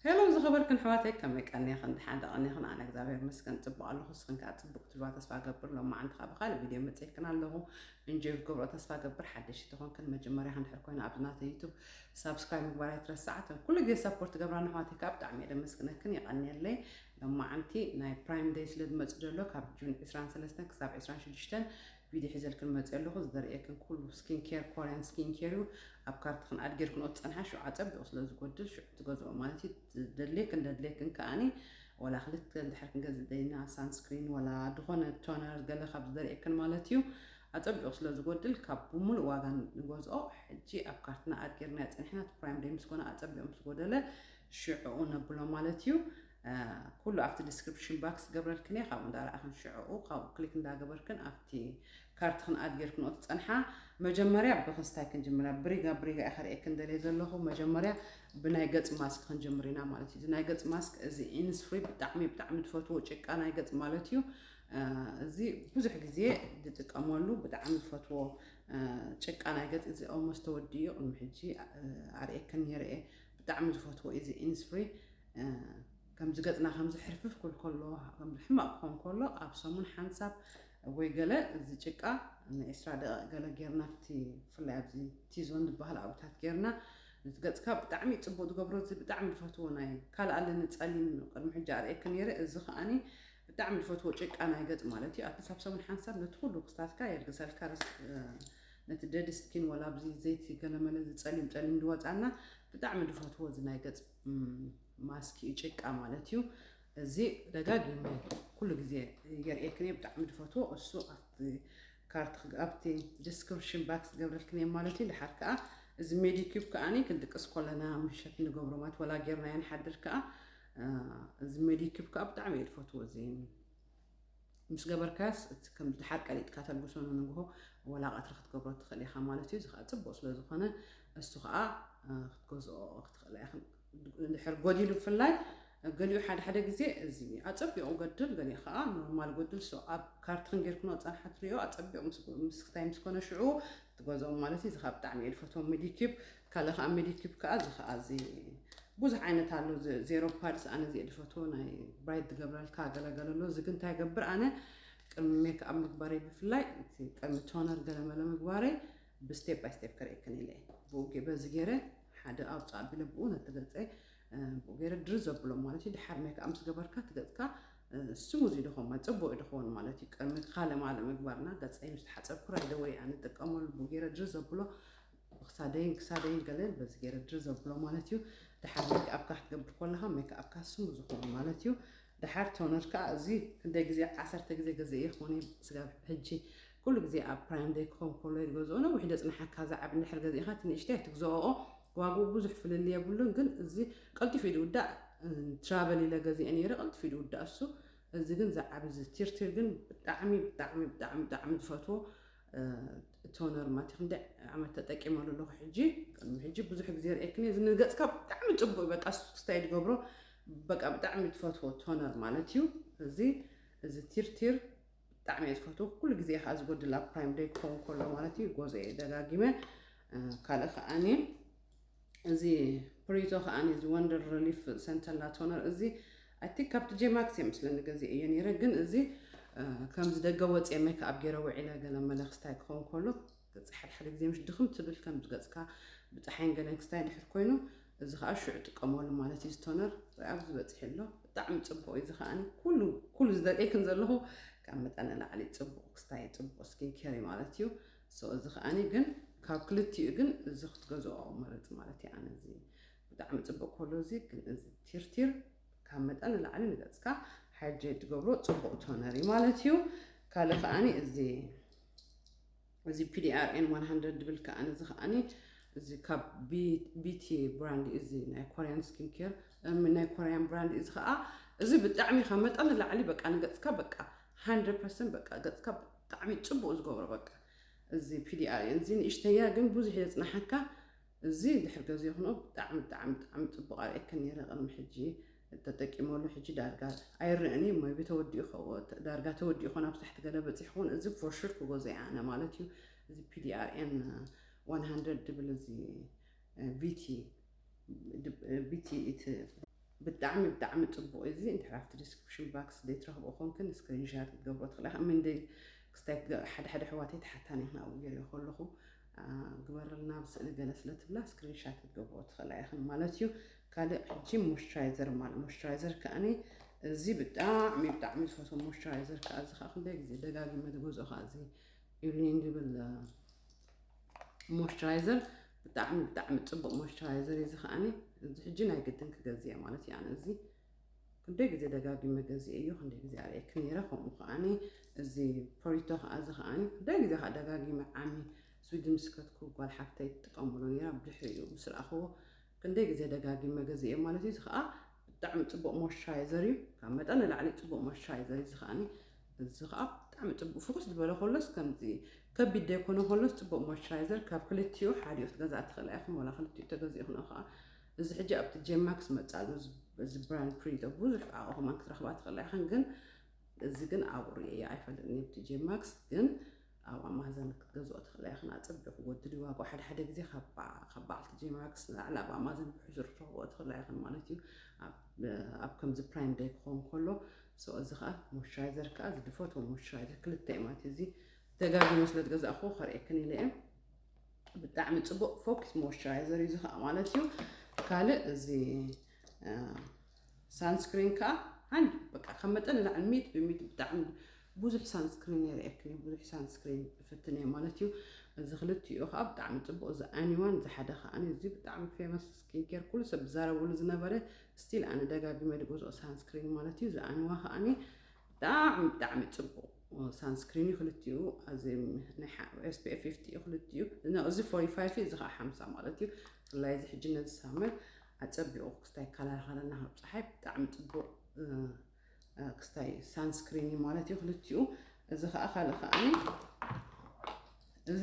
Hello ዝኸበርክን ኣሕዋተይ ከመይ ቀኒኽን ደሓን ዶ ቀኒኽን ኣነ እግዚኣብሔር ይመስገን ጽቡቅ ኣለኹ ንስኽን ከኣ ጽቡቅ ክትህልዋ ተስፋ እገብር ሎማዓንቲ ከኣ ብኻልእ ቪድዮ መጺኤክን ኣለኹ እንጆይ ክትገብሮ ተስፋ እገብር ሓደሽቲ ተኾንክን መጀመርያ እንድሕር ኮይና ኣብዚ ናተይ ዩቱብ ሳብስክራይብ ምግባር ኣይትረስዓ እተን ኩሉ ግዜ ሰፖርት ትገብራና ኣሕዋተይ ከኣ ብጣዕሚ እየ ደመስግነክን የቀንየለይ ሎማዓንቲ ናይ ፕራይም ደይ ስለ ዝመጽእ ዘሎ ካብ ጁን 23 ክሳብ 26 ቪድዮ ሒዘልክን መጺኤ ኣለኹ ዘርእየክን ኩሉ ስኪን ኬር ኮርያን ስኪን ኬር እዩ ኣብ ካርትክን ኣድ ጌርክንኦ ትጸንሓ ሽዑ ኣጸቢቑ ስለ ዝጎድል ሽዑ ትገዝኦ ማለት እዩ ዘድልየክን ዘድልየክን ከኣኒ ወላ ክልተ እንድሕር ክንገዝእ ደሊና ሳንስክሪን ወላ ዝኾነ ቶነር ገለ ካብ ዘርእየክን ማለት እዩ ኣጸቢቑ ስለ ዝጎድል ካብ ብምሉእ ዋጋ ንገዝኦ ሕጂ ኣብ ካርትና ኣድ ጌርናዮ ጸኒሕና እቲ ፕራይም ደይ ምስ ኮነ ኣጸቢቑ ምስ ጎደለ ሽዕኡ ነብሎ ማለት እዩ ኩሉ ኣብቲ ዲስክሪፕሽን ባክስ ገብረልክን እየ ካብኡ እንዳረኣኽን ሽዕኡ ካብኡ ክሊክ እንዳገበርክን ኣብቲ ካርትኽን ኣድ ጌርክንኦ ትጸንሓ መጀመርያ ብክስታይ ክንጅምራ ብሪጋ ብሪጋ እየ ከርእየክን ደልየ ዘለኹ መጀመርያ ብናይ ገጽ ማስክ ክንጅምር ኢና ማለት እዩ እዚ ናይ ገጽ ማስክ እዚ ኢንስፍሪ ብጣዕሚ ብጣዕሚ ዝፈትዎ ጭቃ ናይ ገጽ ማለት እዩ እዚ ብዙሕ ግዜ ዝጥቀመሉ ብጣዕሚ ዝፈትዎ ጭቃ ናይ ገጽ እዚ ኦልሞስ ተወዲኡ ቅድሚ ሕጂ ኣርእየክን ነይረ እየ ብጣዕሚ ዝፈትዎ እዩ እዚ ኢንስፍሪ ከምዚ ገጽና ከምዚ ሕርፍፍ ኩል ከሎ ከምዚ ሕማቅ ክኾን ከሎ ኣብ ሰሙን ሓንሳብ ወይ ገለ እዚ ጭቃ ንዒስራ ደቂቅ ገለ ጌርና እቲ ብፍላይ ኣብዚ ቲዞን ዝበሃል ኣብታት ጌርና ነቲ ገጽካ ብጣዕሚ እዩ ጽቡቅ ዝገብሮ እዚ ብጣዕሚ ዝፈትዎ ናይ ካልእ ኣለኒ ጸሊም ቅድሚ ሕጂ ኣርእየኪ ኔረ እዚ ከኣኒ ብጣዕሚ ዝፈትዎ ጭቃ ናይ ገጽ ማለት እዩ ኣትሊስት ኣብ ሰሙን ሓንሳብ ነቲ ኩሉ ክስታትካ የልግሰልካ ነቲ ደድ ስኪን ወላ ኣብዚ ዘይቲ ገለመለ እዚ ጸሊም ጸሊም ድወጻና ብጣዕሚ ድፈትዎ እዚ ናይ ገጽ ማስክ እዩ ጭቃ ማለት እዩ እዚ ደጋጊመ ኩሉ ግዜ የርእየክን ብጣዕሚ ድፈትዎ እሱ ኣብቲ ካርት ኣብቲ ዲስክሪፕሽን ባክስ ገብረልክን እየ ማለት እዩ ድሓር ከዓ እዚ ሜዲኪዩብ ከዓኒ ክንድቅስ ኮለና ምሸት ንገብሮ ማለት ወላ ጌርና ንሓድር ከዓ እዚ ሜዲኪዩብ ከዓ ብጣዕሚ እየ ድፈትዎ እዚ ምስ ገበርካያስ እቲ ከም ድሓር ቀሊጥካ ተልግሶ ንንግሆ ወላ ቀትሪ ክትገብሮ ትኽእል ኢኻ ማለት እዩ። እዚ ከዓ ጽቡቅ ስለ ዝኾነ እስቱ ከዓ ክትገዝኦ ክትኽእላ ኢኻ ድሕር ጎዲሉ ብፍላይ ገሊኡ ሓደ ሓደ ግዜ እዚ ኣጸቢቑ ገድል ገሊኡ ከዓ ኖርማል ጎድል ሶ ኣብ ካርትክን ጌርክኖ ጸንሓት ሪኦ ኣጸቢቑ ምስ ክታይ ምስ ኮነ ሽዑ ትገዝኦም ማለት እዩ እዚ ከኣ ብጣዕሚ እየ ዝፈትዎ ሚዲኪብ ካልእ ከኣ ሚዲኪብ ከኣ እዚ ከኣ እዚ ብዙሕ ዓይነት ኣሎ ዜሮ ፓድስ ኣነ እዚ ዝፈትዎ ናይ ብራይት ዝገብረልካ ገለገለ ኣሎ እዚ ግን እንታይ ገብር ኣነ ቅድሚ ሜክኣብ ምግባረይ ብፍላይ ቅድሚ ቶነር ገለመለ ምግባረይ ብስቴፕ ባይ ስቴፕ ክርእየክን ኢለ እየ ብኡ በዚ ገይረ ሓደ ኣውፃእ ኣቢለ ብኡ ነቲ ገፀ ከምኡ ገይረ ድር ዘብሎም ማለት እዩ ድሓር ሜክኣብ ምስ ገበርካ እቲ ገጽካ ስሙዝ እዩ ድኾን ማለት ጽቡቅ እዩ ድኸውን ማለት እዩ ቅድሚ ካልእ ማለ ምግባርና ገጸይ ምስ ተሓጸብኩ ራይደ ወይ ኣነ ጥቀመሉ ብኡ ገይረ ድር ዘብሎ ክሳደይን ክሳደይን ገለ በዚ ገይረ ድር ዘብሎ ማለት እዩ ድሓር ሜክኣብካ ክትገብር ኮለኻ ሜክኣብካ ስሙዝ ይኸውን ማለት እዩ ድሓር ቶነር ከዓ እዚ ክንደይ ግዜ ዓሰርተ ግዜ ገዘ እየ ክኾነ ስጋብ ሕጂ ኩሉ ግዜ ኣብ ፕራይም ደይ ክኸውን ከሎ ይገዝኦ ነዊሕ ደጽንሓካ ዝዓብ እንድሕር ገዚእኻ እቲ ንእሽተይ ኣይትግዝኦ ዋግኡ ብዙሕ ፍልልይ የብሉን ግን እዚ ቀልጢፉ እዩ ዝውዳእ ትራቨል ኢለ ገዚኤ ነይረ ቀልጢፉ እዩ ዝውዳእ እሱ እዚ ግን ዝዓብ እዚ ቲርቲር ግን ብጣዕሚ ብጣዕሚ ብጣዕሚ ብጣዕሚ ዝፈትዎ ቶነር ማቲ ክንደይ ዓመት ተጠቂመሉ ኣለኹ ሕጂ ቅድሚ ሕጂ ብዙሕ ግዜ ርእየክኒ እዚ ንገፅካ ብጣዕሚ ፅቡቅ እዩ በቃ ስክስታይ ዝገብሮ በቃ ብጣዕሚ ትፈትዎ ቶነር ማለት እዩ እዚ እዚ ቲርቲር ብጣዕሚ እየ ዝፈትዎ ኩሉ ግዜ ከዓ ዝጎድል ኣብ ፕራይም ደይ ክኸውን ከሎ ማለት እዩ ጎዞ እየ ደጋጊመ ካልእ ከዓኒ እዚ ፕሪዞ ከዓኒ እዚ ወንደር ሪሊፍ ሰንተላ ቶነር እዚ ኣይ ቲንክ ካብቲ ጄማክስ እየ ምስለ ንገዜ እየ ነይረ ግን እዚ ከምዚ ደገ ወፅየ ሜክኣብ ገይረ ውዒለ ገለ መለ ክስታይ ክኸውን ከሎ ገጽ ሓደ ሓደ ግዜ ምሽ ድኽም ትብል ከም ዝገጽካ ብጻሓይን ገለን ክስታይ ድሕር ኮይኑ እዚ ከኣ ሽዑ ጥቀመሉ ማለት እዩ ስቶነር ርኣ ኣብዚ በጺሑ ኣሎ ብጣዕሚ ጽቡቅ እዩ እዚ ከኣ ኩሉ ኩሉ ዝደቀይክን ዘለኹ ካብ መጠን ንላዕሊ ጽቡቅ ክስታይ ጽቡቅ ስኪን ኬር እዩ ማለት እዩ ሶ እዚ ከኣ ግን ካብ ክልቲኡ ግን እዚ ክትገዝኦ መረጽ ማለት እዩ ኣነ እዚ ብጣዕሚ ጽቡቅ ኮሎ እዚ ግን እዚ ቲርቲር ካብ መጠን ንላዕሊ ንገጽካ ሓይል ትገብሮ ጽቡቅ ቶነር እዩ ማለት እዩ ካልእ ከኣ እዚ እዚ ፒዲኣርኤን ዋን ሃንድረድ ድብል ከኣ እዚ ከኣኒ እዚ ካብ ቢቲ ብራንድ እዩ እዚ ናይ ኮርያን ስኪን ኬር ናይ ኮርያን ብራንድ እዚ ከኣ እዚ ብጣዕሚ ካብ መጠን ንላዕሊ በቃ ንገጽካ በቃ ሃንድረድ ፐርሰንት በቃ ገጽካ ብጣዕሚ ጽቡቅ ዝገብሮ በቃ እዚ ፒዲኣርኤን እዚ ንእሽተያ ግን ብዙሕ የጽናሓካ እዚ እንድሕር ገዜክኖ ብጣዕሚ ብጣዕሚ ብጣዕሚ ጽቡቅ ኣርእየክን ኔረ ቅድሚ ሕጂ ተጠቂመሉ ሕጂ ዳርጋ ኣይረእን እየ ሞይቢ ተወዲኡ ከ ዳርጋ ተወዲኡ ኮን ኣብ ታሕቲ ገለ በጺሑ ኮን እዚ ፎር ሹር ክገዞ እየ ኣነ ማለት እዩ እዚ PDRN 100 ድብል እዚ ቪቲ ቪቲ እቲ ብጣዕሚ ብጣዕሚ ጽቡቅ እዩ እዚ እንድሕር ኣብቲ ዲስክሪፕሽን ባክስ ዘይትረክብኦ ኮንክን ስክሪንሻት ክትገብሮ ትኽእላ እምንደይ ክስታይ ሓደ ሓደ ኣሕዋተይ ተሓታኒ ክን ኣብኡ ገይረዮ ከለኹ ግበርልና ኣብ ስእሊ ገለ ስለ ትብላ ስክሪን ሻት ክትገብርኦ ትኽእላ ኢኽን ማለት እዩ ካልእ ሕጂ ሞይስቸራይዘር ማለት ሞይስቸራይዘር ከኣኒ እዚ ብጣዕሚ ብጣዕሚ ዝፈትዎ ሞይስቸራይዘር ከዓ እዚ ከዓ ክንደይ ግዜ ደጋጊመ ዝገዝኦ ከዓ እዚ ኢብሊን ዝብል ሞይስቸራይዘር ብጣዕሚ ብጣዕሚ ፅቡቅ ሞይስቸራይዘር እዩ እዚ ከዓኒ እዚ ሕጂ ናይ ግድን ክገዝእ እየ ማለት እዩ ኣነ እዚ ክንደይ ግዜ ደጋጊመ ገዚኤዮ ክንደይ ግዜ ኣርእየኪ ነይረ ከምኡ ከኣኒ እዚ ፖሪቶ ከኣ እዚ ከኣኒ ክንደይ ግዜ ከኣ ደጋጊመ ዓሚ ስዊድን ምስ ከትኩ ጓል ሓፍተይ ትጥቀመሉ ነይራ ብድሕሪኡ ምስ ረኣኽዎ ክንደይ ግዜ ደጋጊመ ገዚኤዮ ማለት እዩ እዚ ከኣ ብጣዕሚ ጽቡቅ ሞይስቸራይዘር እዩ ካብ መጠን ንላዕሊ ጽቡቅ ሞይስቸራይዘር እዩ እዚ ከኣኒ እዚ ከኣ ብጣዕሚ ጽቡቅ ፍኹስ ዝበለ ከሎስ ከምዚ ከቢድ ዘይኮነ ከሎስ ጽቡቅ ሞይስቸራይዘር ካብ ክልቲኡ ሓዲኡ ክትገዝኣ ትኽእላ ኢኹም ወላ ክልቲኡ ተገዚእኽንኦ ከኣ እዚ ሕጂ ኣብቲ ጀማክስ መጻሉ እዚ ብራንድ ፕሪንተር ብዙሕ ኣቕሑ ከማን ክትረኽባ ትኽእላ ኢኽን ግን እዚ ግን ኣብኡ ርእየያ ኣይፈልጥን ኣብቲ ጀማክስ ግን ኣብ ኣማዘን ክትገዝኦ ትኽእላ ኢኽን ኣጸቢቑ ወድዲ ዋጋኡ ሓደ ሓደ ግዜ ካብ በዓልቲ ጀማክስ ንላዕሊ ኣብ ኣማዘን ብሕሱር ትረኽብኦ ትኽእላ ኢኽን ማለት እዩ ኣብ ከምዚ ፕራይም ደይ ክኸውን ከሎ ሰው እዚ ከዓ ሞይስቸራይዘር ከዓ እዚ ድፈትዎ ሞይስቸራይዘር ክልተ እዩ ማለት እዩ እዚ ደጋጊመ ስለ ዝገዛእኹ ከርእየክን ኢለ እየ ብጣዕሚ ፅቡቅ ፎኪስ ሞይስቸራይዘር እዩ ዝኸዓ ማለት እዩ ካልእ እዚ ሳንስክሪን ከዓ ሓን በቃ ካብ መጠን ንላዕሊ ሚት ብሚት ብጣዕሚ ብዙሕ ሳንስክሪን የርእየክን እዩ ብዙሕ ሳንስክሪን እፍትን እየ ማለት እዩ እዚ ክልቲኡ ከዓ ብጣዕሚ ፅቡቅ እዚ ኣኒዋን እዚ ሓደ ከዓ እዚ ብጣዕሚ ፌመስ ስኪን ኬር ኩሉ ሰብ ዝዛረበሉ ዝነበረ ስቲል ኣነ ደጋጊመ ድገዝኦ ሳንስክሪን ማለት እዩ እዚ ኣኒዋ ከዓኒ ብጣዕሚ ብጣዕሚ ጽቡቅ ሳንስክሪን ዩ ክልቲኡ እዚ ኤስፒኤፍ ፊፍቲ ዩ ክልቲኡ እዚ ፎርቲ ፋይፍ እዚ ከዓ ሓምሳ ማለት ዩ ብፍላይ እዚ ሕጂ ነዚ ሳመር ኣጸቢቑ ክስታይ ይከላኸለና ካብ ፀሓይ ብጣዕሚ ጽቡቅ ክስታይ ሳንስክሪን ዩ ማለት ዩ ክልቲኡ እዚ ከዓ ካልእ ከዓ እዚ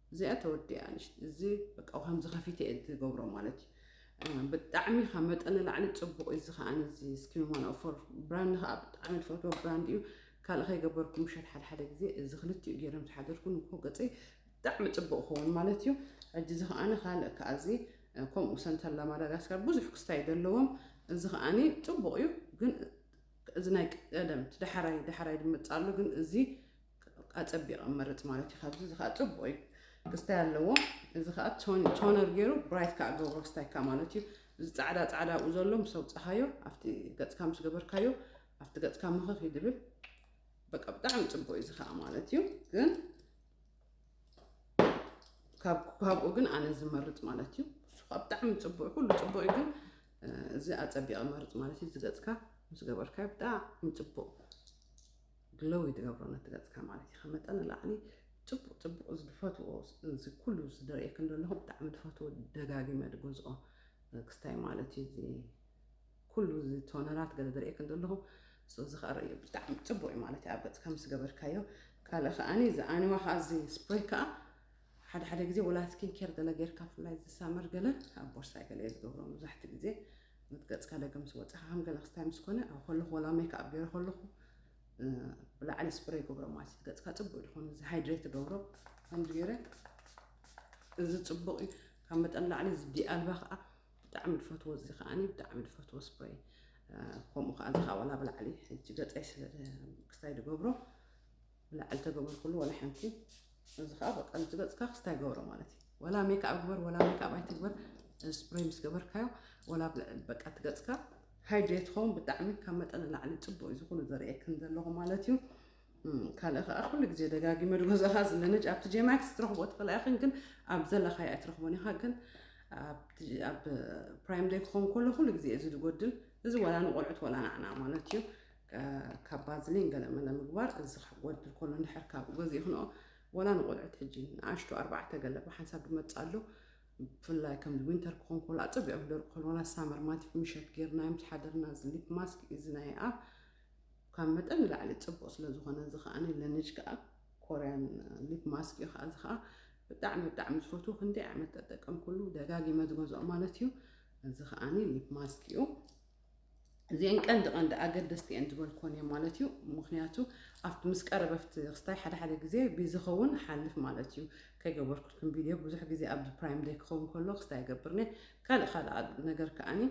እዚኣ ተወዲኣ እዚ በቃ ከምዚ ከፊተ እየ ዝገብሮ ማለት እዩ ብጣዕሚ ካብ መጠን ንላዕሊ ፅቡቅ እዩ እዚ ከዓ እዚ ስኪን ዋን ኦፎር ብራንድ ከዓ ብጣዕሚ ዝፈትዎ ብራንድ እዩ ካልእ ከይገበርኩ ምሸት ሓደ ሓደ ግዜ እዚ ክልቲኡ ገይሮም ዝሓደርኩ ንኮ ገፀይ ብጣዕሚ ፅቡቅ ክኸውን ማለት እዩ ሕጂ እዚ ከዓነ ካልእ ከዓ እዚ ከምኡ ሰንተላ ማዳጋስካር ብዙሕ ክስታይ ዘለዎም እዚ ከዓኒ ፅቡቅ እዩ ግን እዚ ናይ ቀደም ዳሕራይ ዳሕራይ ድመፅእ ኣሎ ግን እዚ ኣፀቢቐ መርፅ ማለት እዩ ካብዚ እዚ ከዓ ፅቡቅ እዩ ክስታይ ኣለዎ እዚ ከዓ ቶነር ገይሩ ብራይት ከዓ ገብሮ ክስታይካ ማለት እዩ እዚ ፃዕዳ ፃዕዳ ኣብኡ ዘሎ ምስ ኣውፅኻዮ ኣብቲ ገፅካ ምስ ገበርካዮ ኣብቲ ገፅካ ምኽኽ እዩ ድብል በቃ ብጣዕሚ ፅቡቅ እዩ እዚ ከዓ ማለት እዩ ግን ካብኡ ግን ኣነ ዝመርፅ ማለት እዩ እሱ ከዓ ብጣዕሚ ፅቡቅ ኩሉ ፅቡቅ እዩ ግን እዚ ኣፀቢቐ መርፅ ማለት እዩ ዝገፅካ ምስ ገበርካዮ ብጣዕሚ ፅቡቅ ግሎዊ ትገብሮ ነቲ ገጽካ ማለት ኢካ መጠን ንላዕሊ ጽቡቅ ጽቡቅ እዚ ድፈትዎ እዚ ኩሉ እዚ ድርእየክን ደለኩ ብጣዕሚ ድፈትዎ ደጋጊመ ድገዝኦ ክስታይ ማለት እዩ እዚ ኩሉ እዚ ቶነራት ገለ ድርእየክን ደለኩ ሶ እዚ ከኣ ርእዮ ብጣዕሚ ጽቡቅ እዩ ማለት እዩ ኣብ ገጽካ ምስ ገበርካዮ ካልእ ከኣ እዚ ኣኒዋ ከኣ እዚ ስፕሬይ ከኣ ሓደ ሓደ ግዜ ወላ ስኪን ኬር ገለ ጌርካ ፍላይ እዚ ሳመር ገለ ኣብ ቦርሳይ ገለ እየ ዝገብሮ መብዛሕትኡ ግዜ ነቲ ገጽካ ደገ ምስ ወጻኻ ከም ገለ ክስታይ ምስ ኮነ ኣብ ከለኹ ወላ ሜክኣፕ ገይረ ከለኹ ብላዕሊ ስፕሬይ ገብሮ ማለት እዩ ገጽካ ጽቡቅ ይኹን እዚ ሃይድሬት ገብሮ ከምዚ ገይረ እዚ ጽቡቅ እዩ ካብ መጠን ላዕሊ እዚ ዲኣልባ ከዓ ብጣዕሚ ዝፈትዎ እዚ ከዓኒ ብጣዕሚ ዝፈትዎ ስፕሬይ ከምኡ ከዓ እዚ ከዓ ዋላ ብላዕሊ ሕጂ ገፀይ ስለ ክስታይ ዝገብሮ ብላዕሊ ተገብርክሉ ወላ ሓንቲ እዚ ከዓ በቃ እዚ ገፅካ ክስታ ይገብሮ ማለት እዩ ወላ ሜክኣብ ግበር ወላ ሜክኣብ ኣይትግበር ስፕሬይ ምስ ገበርካዮ ወላ በቃ እቲ ገፅካ ሃይድሬት ኸውን ብጣዕሚ ካብ መጠን ንላዕሊ ፅቡቅ እዩ ዝኩሉ ዘርእየክን ዘለኹ ማለት እዩ ካልእ ከዓ ኩሉ ግዜ ደጋጊመ ድገዛኻ ዝለነጅ ኣብቲ ጄማክስ ትረኽቦ ትኽእላ ኢኽን ግን ኣብ ዘለኻዮ ኣይትረኽቦን ኢኻ ግን ኣብ ፕራይም ደይ ክኸውን ከሎ ኩሉ ግዜ እዚ ዝጎድል እዚ ወላ ንቆልዑት ወላ ናዕና ማለት እዩ ካብ ባዝሊን ገለ መለ ምግባር እዚ ክጎድል ከሎ እንድሕር ካብኡ ገዚእክንኦ ወላ ንቆልዑት ሕጂ ንኣሽቱ ኣርባዕተ ገለ ብሓንሳብ ድመጽእ ኣሎ ብፍላይ ከም ዊንተር ክኾን ከሎ ኣጸቢዖም ክደርቁ ከሎ ወላ ሳመር ማቲፍ ምሸት ጌርናዮም ዝሓደርና እዚ ሊፕ ማስክ እዚ ናይ ኣብ ካብ መጠን ንላዕሊ ጽቡቕ ስለ ዝኾነ እዚ ከኣ ለንጅ ከኣ ኮርያን ሊፕ ማስክ እዩ ከኣ እዚ ከኣ ብጣዕሚ ብጣዕሚ ዝፈትዎ ክንደይ ዓመት ተጠቀምኩሉ ደጋጊመ ዝገዝኦ ማለት እዩ እዚ ከኣ ሊፕ ማስክ እዩ እዚኤን ቀንዲ ቀንዲ ኣገደስቲ እየን ዝበልክወን እየን ማለት እዩ ምክንያቱ ኣብቲ ምስ ቀረበፍቲ ክስታይ ሓደ ሓደ ግዜ ብዝኸውን ሓልፍ ማለት እዩ ከይገበርኩልክም ቪድዮ ብዙሕ ግዜ ኣብዚ ፕራይም ደይ ክኸውን ከሎ ክስታይ ይገብርኒ ካልእ ካልእ ነገር ከዓኒ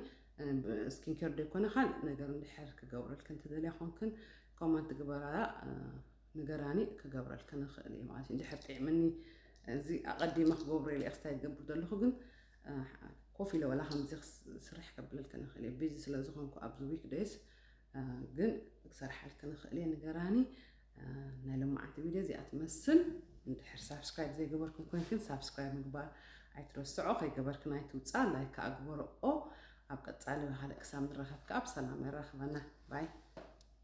ስኪን ኬር ደይኮነ ካልእ ነገር እንድሕር ክገብረልክን ትደልያ ኮንክን ኮመንት ግበራያ ንገራኒ ክገብረልክን ንኽእል እዩ ማለት እዩ እንድሕር ጥዕምኒ እዚ ኣቐዲመ ክገብሩ ኢለ ክስታይ ዝገብር ዘለኹ ግን ኮፍ ኢለ ዋላ ከምዚ ክስርሕ ከብለልክ ንኽእል እየ ቢዚ ስለ ዝኾንኩ ኣብዚ ዊክ ደይስ ግን ክሰርሓልክ ንኽእል እየ ንገራኒ ናይ ሎማዓንቲ ቪድዮ እዚኣ ትመስል እንድሕር ሳብስክራይብ ዘይገበርክን ኮንክን ሳብስክራይብ ምግባር ኣይትረስዖ ከይገበርክን ኣይትውፃ ላይክ ከዓ ግበርኦ ኣብ ቀፃሊ ብካልእ ክሳብ ንራኸብ ከዓ ብሰላም የራኽበና ባይ